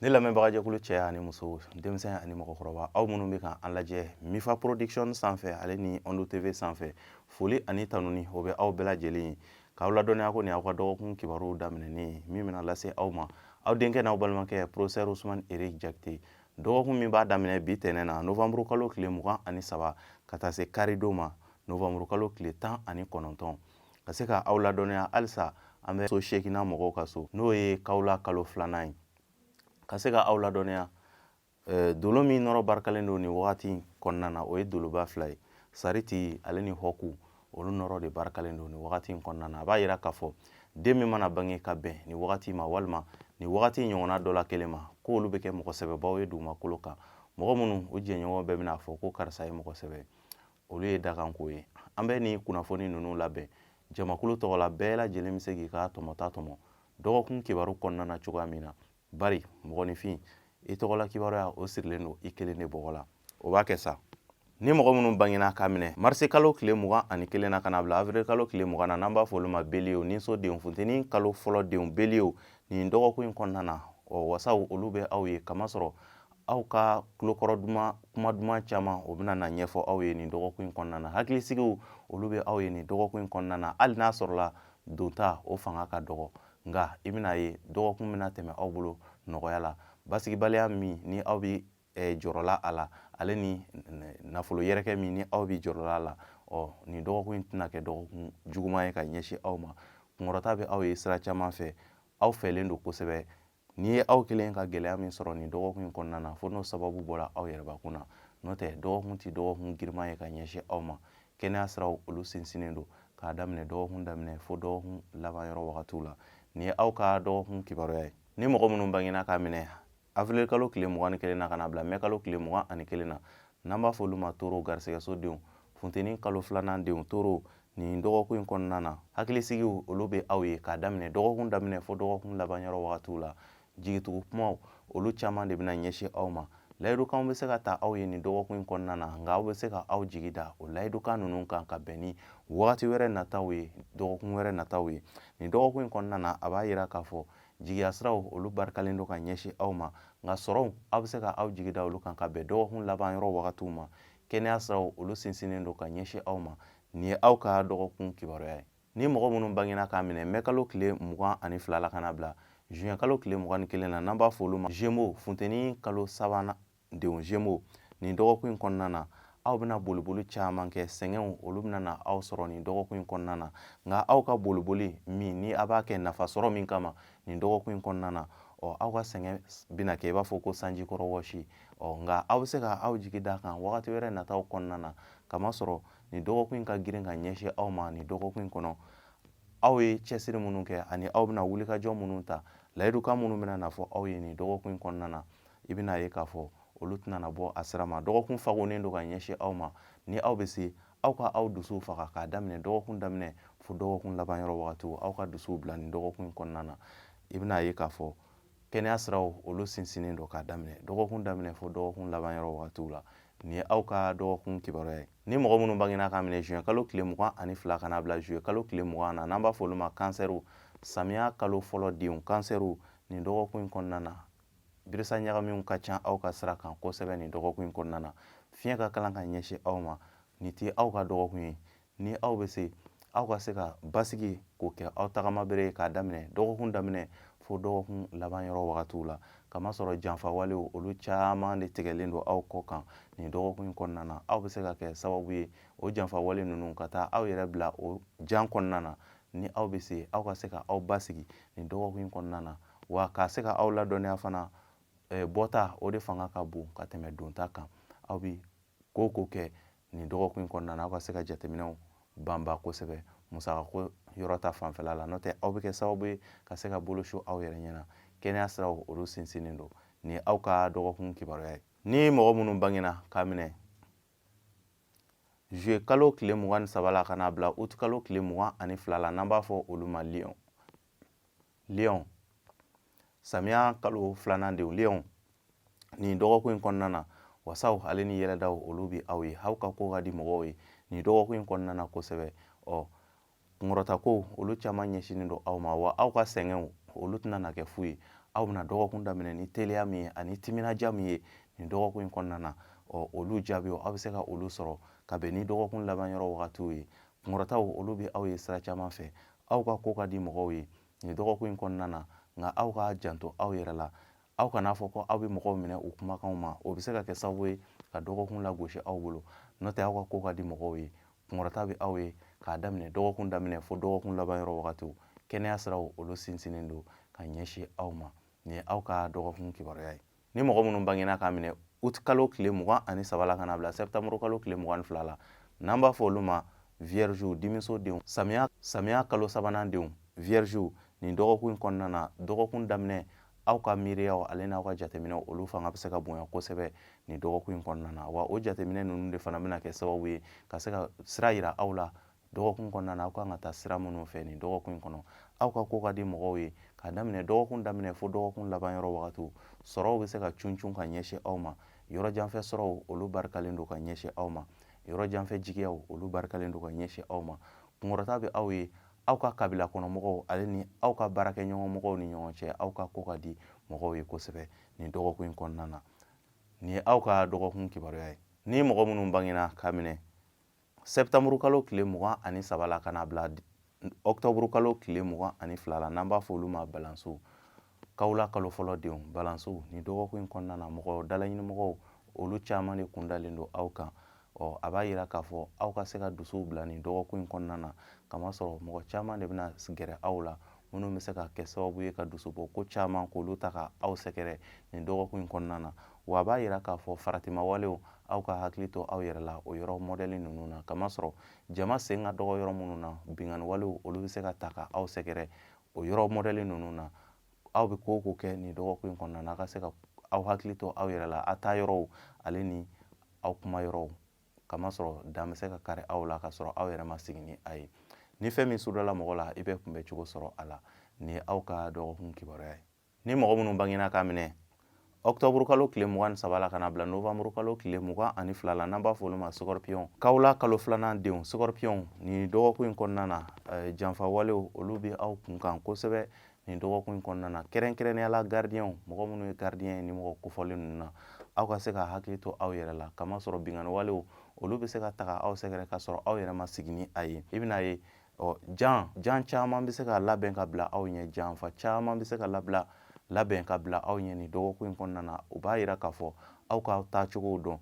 ne lamɛnbagajɛkulu cɛ ani muso denmisɛn ani mɔgɔkɔrɔba aw minnu bɛ kan an lajɛ mifa production sanfɛ ale ni ondo tv sanfɛ foli ani tanuni o bɛ aw bɛɛ lajɛlen ye k'aw ladɔnniya ko nin aw ka dɔgɔkun kibaruw daminɛnen min bɛna lase aw ma aw denkɛ n'aw balimakɛ professeur usman eric jakite dɔgɔkun min b'a daminɛ bi tɛnɛn na novembre kalo tile mugan ani saba ka taa se karidon ma novembre kalo tile tan ani kɔnɔntɔn ka se ka aw ladɔnniya halisa an bɛ so seeginnan mɔgɔw ka so n'o ye kawula kalo filanan ye ka se ka aw ladɔnniya eh, dolo min nɔrɔ barikalen don nin wagati in kɔnɔna na o ye doloba fila ye sariti ale ni hɔku olu nɔrɔ de barikalen don nin wagati in kɔnɔna na a b'a yira k'a fɔ den min mana bange ka bɛn nin wagati ma walima nin wagati ɲɔgɔnna dɔ la kelen ma ko olu bɛ kɛ mɔgɔ sɛbɛbaw ye dugumakolo kan mɔgɔ minnu u jɛɲɔgɔn bɛɛ bɛna fɔ ko karisa ye mɔgɔ sɛbɛ olu ye dakanko ye an bɛ nin kunnafoni ninnu labɛn jamakulu tɔgɔ la bɛɛ lajɛlen bɛ se k'i ka tɔmɔta tɔmɔ dɔgɔkun kibaru kɔnɔna na cogoya min na bari mɔgɔninfin i tɔgɔla kibaruya o sirilen don i kelen de bɔgɔ la o b'a kɛ sa ni mɔgɔ minnu bangena k'a minɛ marisikalo tile mugan ani kelen na ka na bila avril kalo tile mugan na n'an b'a fɔ olu ma beliyew ninso denw funteni kalo fɔlɔ denw beliyew nin dɔgɔkun in kɔnɔna na ɔ wasaw olu bɛ aw ye kamasɔrɔ aw ka tulokɔrɔ duman kuma duman caman o bɛna na ɲɛfɔ aw ye nin dɔgɔkun in kɔnɔna na hakilisigiw olu bɛ aw ye nin dɔgɔkun in kɔnɔna na hali n'a sɔrɔla donta o fanga ka dɔgɔ nka i bɛna ye dɔgɔkun bɛna tɛmɛ aw bolo nɔgɔya la basigibaliya min ni aw bɛ eh, jɔrɔla a la ale ni nafolo yɛrɛkɛ min ni aw bɛ jɔrɔla a la ɔ nin dɔgɔkun in tɛna kɛ dɔgɔkun juguman ye ka ɲɛsin aw ma kunkɔrɔta bɛ aw ye sira caman fɛ aw fɛlen don kosɛbɛ n'i ye aw kelen ka gɛlɛya min sɔrɔ nin dɔgɔkun in kɔnɔna na fo n'o sababu bɔra aw yɛrɛbakun na n'o tɛ dɔgɔkun tɛ dɔgɔkun girinman ye ka ɲɛsin aw ma kɛnɛya siraw olu sinsinnen don k'a daminɛ dɔgɔkun daminɛ fo dɔgɔkun laban yɔrɔ wagatiw la nin ye aw ka dɔgɔkun kibaruya ye ni mɔgɔ minnu bangena k'a minɛ avril kalo tile mugan ni kelen na ka na bila mɛ kalo tile mugan ani kelen na n'an b'a fɔ olu ma toro garisɛgɛso denw funteni kalo filanan denw toro nin dɔgɔkun in kɔnɔna na hakilisigiw olu bɛ aw ye k'a daminɛ dɔgɔkun daminɛ fo dɔgɔkun laban yɔrɔ wagatiw la jigitugu kumaw olu caman de bɛna ɲɛsin aw ma layidukanw bɛ se ka ta aw ye nin dɔgɔkun in kɔnɔna na nka aw bɛ se ka aw jigi da o layidukan ninnu kan ka bɛn ni wagati wɛrɛ nataw ye dɔgɔkun wɛrɛ nataw ye nin dɔgɔkun in kɔnɔna na a b'a yira k'a fɔ jigiya siraw olu barikalen don ka ɲɛsin aw ma nka sɔrɔw aw bɛ se ka aw jigi da olu kan ka bɛn dɔgɔkun laban yɔrɔ wagatiw ma kɛnɛya siraw olu sinsinnen don ka ɲɛsin aw ma nin ye aw ka dɔgɔkun kibaruya ye ni mɔgɔ minnu bangena k'a minɛ mɛkalo tile mugan ani fila la ka na bila juin kalo tile mugan ni kelen na n'an b'a fɔ olu ma gémeaux funteni kalo sabanan denw gémeaux nin dɔgɔkun in kɔnɔna na aw bɛna boliboli caman kɛ sɛgɛnw olu bɛna na aw sɔrɔ nin dɔgɔkun in kɔnɔna na nka aw ka boliboli min ni a b'a kɛ nafa sɔrɔ min kama nin dɔgɔkun in kɔnɔna na ɔ aw ka sɛgɛn bɛna kɛ i b'a fɔ ko sanji kɔrɔ wɔsi ɔ nka aw bɛ se ka aw jigi d'a kan wagati wɛrɛ nataw kɔnɔna na k'a masɔrɔ nin dɔgɔkun in ka girin ka ɲɛsin aw ma nin dɔgɔkun in kɔnɔ aw ye cɛsiri minnu kɛ ani aw bɛna wulikajɔ minnu ta layidukan minnu bɛna na fɔ aw ye nin dɔgɔkun in kɔnɔna na i bɛna ye k'a fɔ olu tɛna na bɔ a sira ma dɔgɔkun fagonnen don ka ɲɛsin aw ma ni aw bɛ se aw ka aw dusuw faga k'a daminɛ dɔgɔkun daminɛ fo dɔgɔkun laban yɔrɔ wagatiw aw ka dusuw bila nin dɔgɔkun in kɔnɔna na i bɛna ye k'a fɔ kɛnɛya siraw olu sinsinnen don k'a daminɛ dɔgɔkun daminɛ fo dɔgɔkun laban yɔrɔ wagatiw la nin ye aw ka dɔgɔkun kibaruya ye ni mɔgɔ minnu bangena k'a minɛ juin kalo tile mugan ani fila ka na bila juillet kalo tile mugan na n'an b'a fɔ olu ma kansɛriw samiya kalo fɔlɔ denw kansɛriw nin dɔgɔkun in kɔnɔna na birisa ɲagaminw ka ca aw ka sira kan kosɛbɛ nin dɔgɔkun in kɔnɔna na fiɲɛ ka kalan ka ɲɛsin aw ma nin tɛ aw ka dɔgɔkun ye ni aw bɛ se aw ka se ka basigi k'o kɛ aw tagama bere ye k'a daminɛ dɔgɔkun daminɛ fo dɔgɔkun laban yɔrɔ wagatiw la k'a masɔrɔ janfawalew olu caman de tigɛlen don aw kɔ kan nin dɔgɔkun in kɔnɔna na aw bɛ se ka kɛ sababu ye o janfawale ninnu ka taa aw yɛrɛ bila o jan kɔnɔna na ni aw bɛ se aw ka se ka aw basigi nin dɔgɔkun in kɔnɔna na wa ka se ka aw ladɔnniya fana bɔta o de fanga ka bon ka tɛmɛ donta kan aw bɛ ko o ko kɛ nin dɔgɔkun in kɔnɔna na aw ka se ka jateminɛw banba kosɛbɛ musakako yɔrɔ ta fanfɛla la n'o tɛ aw bɛ kɛ sababu ye ka se ka bolo su aw yɛrɛ ɲɛ na kɛnɛya siraw olu sinsinnen don nin ye aw ka dɔgɔkun kibaruya ye ni mɔgɔ minnu bangena k'a minɛ juillet kalo tile mugan ni saba la ka n'a bila utikalo tile mugan ani fila la n'an b'a fɔ olu ma lion lion samiya kalo filanan denw lion nin dɔgɔkun in kɔnɔna na wasaw ale ni yɛlɛdaw olu bɛ aw ye aw ka ko ka di mɔgɔw ye nin dɔgɔkun in kɔnɔna na kosɛbɛ ɔ kunkɔrɔta ko olu caman ɲɛsinnen don aw ma wa aw ka sɛgɛnw olu tɛna na kɛ fu ye aw bɛna dɔgɔkun daminɛ ni teliya min ye ani timinadiya min ye nin dɔgɔkun in kɔnɔna na ɔ olu jaabiw aw bɛ se ka olu sɔrɔ ka bɛn ni dɔgɔkun laban yɔrɔ wagatiw ye kunkɔrɔtaw olu bɛ aw ye sira caman fɛ aw ka ko ka di mɔgɔw ye nin dɔgɔkun in kɔnɔna na nka aw ka janto aw yɛrɛ la aw kana fɔ ko aw bɛ mɔgɔw minɛ u kumakanw ma o bɛ se ka kɛ sababu ye ka dɔgɔkun lagosi aw bolo n'o tɛ aw ka ko ka di mɔgɔw ye kunkɔrɔta bɛ aw ye k'a daminɛ dɔgɔkun daminɛ fo dɔgɔkun laban yɔrɔ wagatiw kɛnɛya siraw olu sinsinnen don ka ɲɛsin aw ma nin ye aw ka dɔgɔkun kibaruya ye ni mɔgɔ minnu bangena k'a minɛ ut kalo tile mugan ani saba la ka na bila sɛptamuru kalo tile mugan ni fila la n'an b'a fɔ olu ma viergew dimiso denw samiya samiya kalo sabanan denw viergew nin dɔgɔkun in kɔnɔna na dɔgɔkun daminɛ aw ka miiriyaw ale n'aw ka jateminɛw olu fanga bɛ se ka bonya kosɛbɛ nin dɔgɔkun in kɔnɔna na wa o jateminɛ ninnu de fana bɛna kɛ sababu ye ka se ka sira yira aw la dɔgɔkun kɔnɔna na aw kan ka taa sira minnu fɛ nin dɔgɔkun in kɔnɔ aw ka ko ka di mɔgɔw ye k'a daminɛ dɔgɔkun daminɛ fo dɔgɔkun laban yɔrɔ wagatiw sɔrɔw bɛ se ka cun ka ɲɛsin aw ma yɔrɔ janfɛ sɔrɔw olu barikalen don ka ɲɛsin aw ma yɔrɔ janfɛ jigiyaw olu barikalen don ka ɲɛsin aw ma kunkɔrɔta bɛ aw ye aw ka kabila kɔnɔ mɔgɔw ale ni aw ka baarakɛɲɔgɔn mɔgɔw ni ɲɔgɔn cɛ aw ka ko ka di mɔgɔw ye kosɛbɛ nin dɔgɔkun in kɔnɔna na nin ye aw ka dɔgɔkun kibaruya ye ni mɔgɔ minnu bangena k'a minɛ sɛptamuru kalo tile mugan ani saba la ka na bila ɔkutɔburukalo tile mugan ani fila la n'an b'a fɔ olu ma balansuw kawula kalo fɔlɔ denw balansuw nin dɔgɔkun in kɔnɔna na mɔgɔ dalaɲinimɔgɔw olu caman de kun dalen don aw kan ɔ a b'a yira k'a fɔ aw ka se ka dusuw bila nin dɔgɔkun in kɔnɔna na kamasɔrɔ mɔgɔ caman de bɛna gɛrɛ aw la minnu bɛ se ka kɛ sababu ye ka dusubɔ ko caman k'olu ta ka aw sɛgɛrɛ nin dɔgɔkun in kɔnɔna na wa a b'a yira k'a fɔ faratimawalew aw ka hakili to aw yɛrɛ la o yɔrɔ mɔdɛli ninnu na kamasɔrɔ jama sen ka dɔgɔ yɔrɔ minnu na binkanniwalew olu bɛ se ka taa ka aw sɛgɛrɛ o yɔrɔ mɔdɛli ninnu na aw bɛ ko o ko kɛ nin dɔgɔkun in kɔnɔna na a ka se ka aw hakili to aw yɛrɛ la a taa yɔrɔw ale ni aw kuma yɔrɔw kamasɔrɔ dan bɛ se ka kari aw la ka sɔrɔ aw yɛrɛ ma sigi ni a ye ni fɛn min sudala mɔgɔ la i bɛ kunbɛ cogo sɔrɔ a la nin ye aw ka dɔgɔkun kibaruya ye ni mɔgɔ minnu bangena k'a minɛ ɔktɔburu kalo tile mugan ni saba la ka na bila nowanburu kalo tile mugan ani fila la n'an b'a fɔ olu ma sɔkɔrɔpiyɔn kawula kalo filanan denw sɔkɔrɔpiyɔn nin dɔgɔkun in kɔnɔna na eh, janfawalew olu bɛ aw kun kan kosɛbɛ nin dɔgɔkun in kɔnɔna na kɛrɛnkɛrɛnnenya la garidiyɛnw mɔgɔ minnu ye garidiyɛn ye ni mɔgɔ kofɔlen ninnu na aw ka se ka hakili to aw yɛrɛ la kamasɔrɔ binkanni walew olu bɛ se ka taga aw sɛgɛrɛ ka sɔrɔ aw yɛrɛ ma sigi ni a ye i bɛna ye ɔ jan jan caman bɛ se ka labɛn ka bila aw ɲɛ janfa caman bɛ se ka labila labɛn ka bila aw ɲɛ nin dɔgɔkun in kɔnɔna na o b'a yira k'a fɔ aw ka taacogow dɔn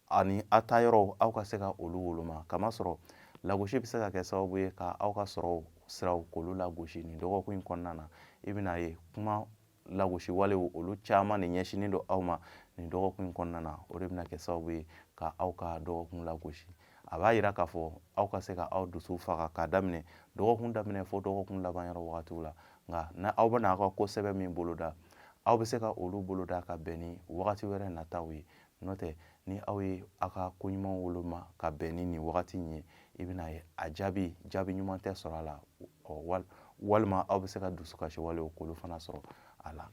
ani a taa yɔrɔw aw ka se ka olu woloma kamasɔrɔ lagosi bɛ se ka kɛ sababu ye ka aw ka sɔrɔ siraw k'olu lagosi nin dɔgɔkun in kɔnɔna na i bɛna ye kuma lagosi walew olu caman de ɲɛsinnen don aw ma nin dɔgɔkun in kɔnɔna na o de bɛna kɛ sababu ye ka aw ka dɔgɔkun lagosi a b'a yira k'a fɔ aw ka se ka aw dusu faga k'a daminɛ dɔgɔkun daminɛ fo dɔgɔkun laban yɔrɔ wagatiw la nka n'aw bɛna aw ka ko sɛbɛ min boloda aw bɛ se ka olu boloda ka bɛn ni wagati wɛrɛ nataw ye n'o tɛ ni aw ye aw ka ko ɲuman woloma ka bɛn ni nin wagati in ye i bɛna ye a jaabi jaabi ɲuman tɛ sɔrɔ a la walima aw bɛ se ka dusukasi walew k'olu fana sɔrɔ a la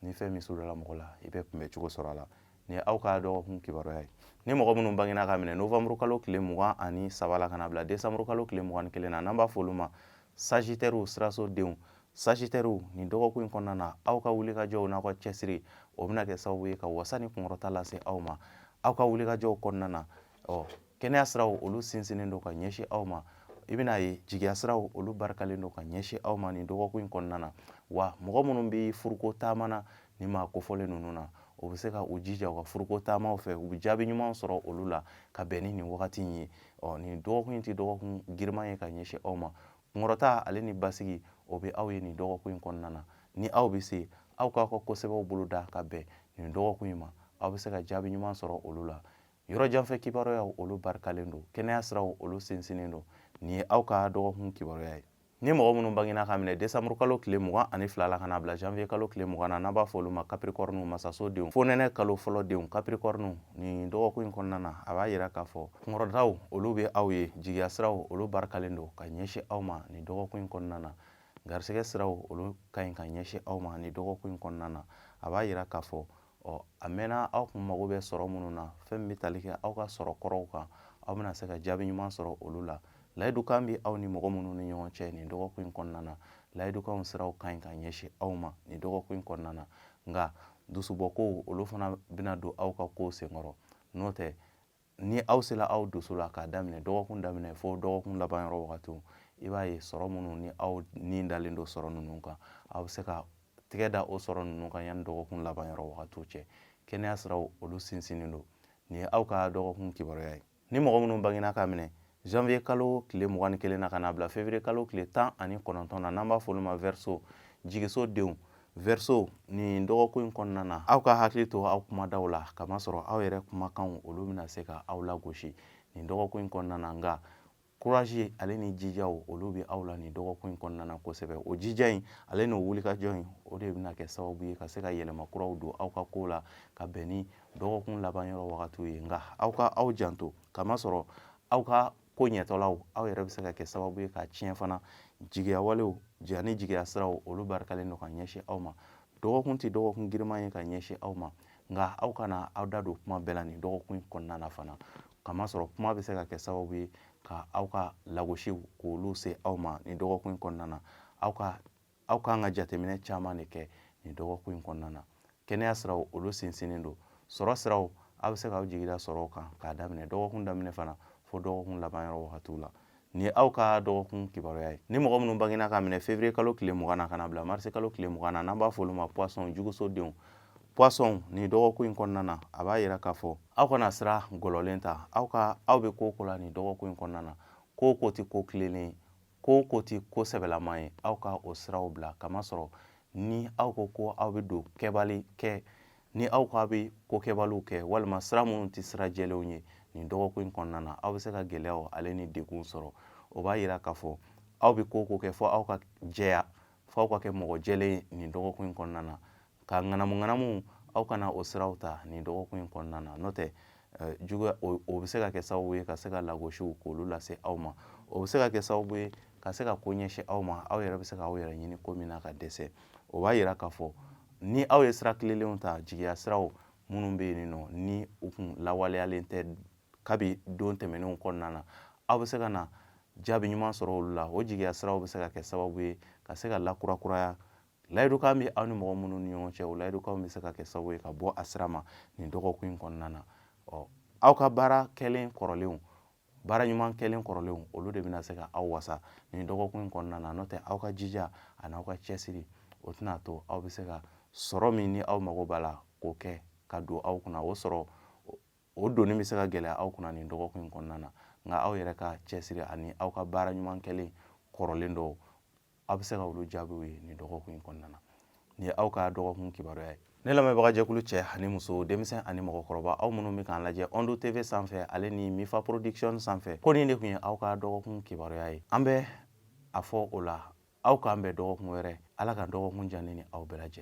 ni fɛn min sudala mɔgɔ la i bɛ kunbɛ cogo sɔrɔ a la nin ye aw ka dɔgɔkun kibaruya ye ni mɔgɔ minnu bangena ka minɛ novembre kalo tile mugan ani saba la ka na bila décembre kalo tile mugan ni kelen na n'an b'a fɔ olu ma sajitɛriw siraso denw sajitɛriw nin dɔgɔkun in kɔnɔna na aw ka wulikajɔw n'aw ka cɛsiri o bɛna kɛ sababu ye ka wasa ni kunkɔrɔta lase aw ma aw ka wulikajɔw kɔnɔna na ɔ kɛnɛya siraw olu sinsinnen don ka ɲɛsin aw ma i bɛna ye jigiya siraw olu barikalen don ka ɲɛsin aw ma nin dɔgɔkun in kɔnɔna na wa mɔgɔ minnu bɛ furuko taama na nin maa kofɔlen ninnu na o bɛ se ka u jija u ka furuko taamaw fɛ u bɛ jaabi ɲuman sɔrɔ olu la ka bɛn ni nin wagati in ye ɔ nin dɔgɔkun in tɛ dɔgɔkun giriman ye ka ɲɛsin aw ma kunkɔrɔta ale ni basigi o bɛ aw ye nin dɔgɔkun in kɔnɔna na ni aw bɛ se aw k'aw ka kosɛbɛw boloda ka bɛn nin dɔgɔkun in ma aw bɛ se ka jaabi ɲuman sɔrɔ olu la yɔrɔ janfɛ kibaruyaw olu barikalen don kɛnɛya siraw olu sinsinnen don nin ye aw ka dɔgɔkun kibaruya ye Ni mɔgɔ minnu bangina ka minɛ décembre kalo tile mugan ani fila la ka n'a bila janvier kalo tile 20 na n'an b'a fɔ olu ma capricorne masaso denw fonɛnɛ kalo fɔlɔ denw capricorne nin dɔgɔkun in kɔnɔna na a b'a yira k'a fɔ kunkɔrɔtaw olu bɛ aw ye jigiya siraw olu barikalen don ka ɲɛsin aw ma nin dɔgɔkun in kɔnɔna na garisɛgɛ siraw olu ka ɲi ka ɲɛsin aw ma nin dɔgɔkun in kɔnɔna na a b'a yira k'a fɔ ɔ a mɛnna aw kun mago bɛ sɔrɔ minnu na fɛn min bɛ tali kɛ aw ka sɔrɔ kɔrɔw kan aw bɛna se ka jaabi ɲuman sɔrɔ olu la layidukan bɛ aw ni mɔgɔ minnu ni ɲɔgɔn cɛ nin dɔgɔkun in kɔnɔna na layidukanw siraw ka ɲi ka ɲɛsin aw ma nin dɔgɔkun in kɔnɔna na nka dusubɔkow olu fana bɛna don aw ka kow senkɔrɔ n'o tɛ ni aw sela aw dusu la k'a daminɛ dɔgɔkun daminɛ fo dɔgɔkun laban yɔrɔ wagatiw i b'a ye sɔrɔ minnu ni aw ni dalen don sɔrɔ ninnu kan aw bɛ se ka tɛgɛ da o sɔrɔ ninnu kan yanni dɔgɔkun laban yɔrɔ wagatiw cɛ kɛnɛya siraw olu sinsinnen don nin ye aw ka dɔgɔkun kibaruya ye ni mɔgɔ minnu bangena ka minɛ janvier kalo tile mugan ni kelen na ka na bila février kalo tile tan ani kɔnɔntɔn na n'an b'a fɔ olu ma verseau jigiso denw verseau nin dɔgɔkun in kɔnɔna na aw ka hakili to aw kumadaw la kamasɔrɔ aw yɛrɛ kumakanw olu bɛna se ka aw lagosi nin dɔgɔkun in kɔnɔna na nka kurazi ale ni jijaw olu bɛ aw la nin dɔgɔkun in kɔnɔna na kosɛbɛ o jija in ale n'o wulikajɔ in o de bɛna kɛ sababu ye ka se ka yɛlɛma kuraw don aw ka kow la ka bɛn ni dɔgɔkun laban yɔrɔ wagatiw ye nka aw ka aw janto kamasɔrɔ aw ka ko ɲɛtɔlaw aw yɛrɛ bɛ se ka kɛ sababu ye k'a tiɲɛ fana jigiya walew ani jigiya siraw olu barikalen don ka ɲɛsin aw ma dɔgɔkun tɛ dɔgɔkun giriman ye ka ɲɛsin aw ma nka aw kana aw da don kuma bɛɛ la nin dɔgɔkun in kɔnɔna na fana kamasɔrɔ kuma bɛ se ka kɛ sababu ye ka aw ka lagosiw k'olu se aw ma nin dɔgɔkun in kɔnɔna na aw ka aw kan ka jateminɛ caman de kɛ nin dɔgɔkun in kɔnɔna na kɛnɛya siraw olu sinsinnen don sɔrɔ siraw aw bɛ se k'aw jigida sɔrɔw kan k'a daminɛ dɔgɔkun daminɛ fana fo dɔgɔkun laban yɔrɔ wagatiw la nin ye aw ka dɔgɔkun kibaruya ye ni mɔgɔ minnu bangena k'a minɛ fevrier kalo tile mugan na ka na bila marisi kalo tile mugan na n'an b'a fɔ olu ma poisson jɛgɛsodenw poisson nin dɔgɔkun in kɔnɔna na a b'a yira k'a fɔ aw kana sira gɔlɔlen ta aw ka aw bɛ ko o ko la nin dɔgɔkun in kɔnɔna na ko o ko tɛ ko tilennen ko o ko tɛ ko sɛbɛlama ye aw ka o siraw bila k'a masɔrɔ ni aw ko ko aw bɛ don kɛbali kɛ ni aw ko aw bɛ ko kɛbaliw kɛ walima sira minnu tɛ sira jɛlenw ye nin dɔgɔkun in kɔnɔna na aw bɛ se ka gɛlɛyaw ale ni degun sɔrɔ o b'a yira k'a fɔ aw bɛ ko o ko kɛ fo aw ka jɛya fo aw ka kɛ mɔgɔ jɛlen ye nin dɔgɔkun in kɔnɔna na ka ŋanamu ŋanamu aw kana o siraw ta nin dɔgɔkun in kɔnɔna na n'o tɛ eh, juguya o bɛ se ka kɛ sababu ye ka se ka lagosiw k'olu lase aw ma o bɛ se ka kɛ sababu ye ka se ka ko ɲɛsin aw ma aw yɛrɛ bɛ se ka aw yɛrɛ ɲini ko min na ka dɛsɛ o b'a yira k'a fɔ ni aw ye sira tilelenw ta jigiya siraw minnu bɛ yen nɔ ni u kun lawaleyalen tɛ kabi don tɛmɛnenw kɔnɔna na aw bɛ se ka na jaabi ɲuman sɔrɔ olu la o jigiya siraw bɛ se ka kɛ sababu ye ka se ka lakurakuraya layidukan bɛ aw ni mɔgɔ minnu ni ɲɔgɔn cɛ o layidukan bɛ se ka kɛ sababu ye ka bɔ a sira ma nin dɔgɔkun in kɔnɔna na ɔ aw ka baara kɛlen kɔrɔlenw baara ɲuman kɛlen kɔrɔlenw olu de bɛna se ka aw wasa nin dɔgɔkun in kɔnɔna na n'o tɛ aw ka jija ani aw ka cɛsiri o tɛna to aw bɛ se ka sɔrɔ min ni aw mago b'a la k'o kɛ ka don aw kunna o sɔrɔ o donni bɛ se ka gɛlɛya aw kunna nin dɔgɔkun in kɔnɔna na nka aw yɛrɛ ka cɛsiri ani aw ka baara ɲuman kɛlen kɔrɔlen dɔw aw bɛ se ka olu jaabiw ye nin dɔgɔkun in kɔnɔna na nin ye aw ka dɔgɔkun kibaruya ye ne lamɛnbaga jɛkulu cɛ ani muso denmisɛn ani mɔgɔkɔrɔba aw minnu bɛ k'an lajɛ ondo tv sanfɛ ale ni mifa production sanfɛ ko nin de tun ye aw ka dɔgɔkun kibaruya ye an bɛ a fɔ o la aw k'an bɛn dɔgɔkun wɛrɛ ala ka dɔgɔkun diya an ni aw bɛɛ lajɛlen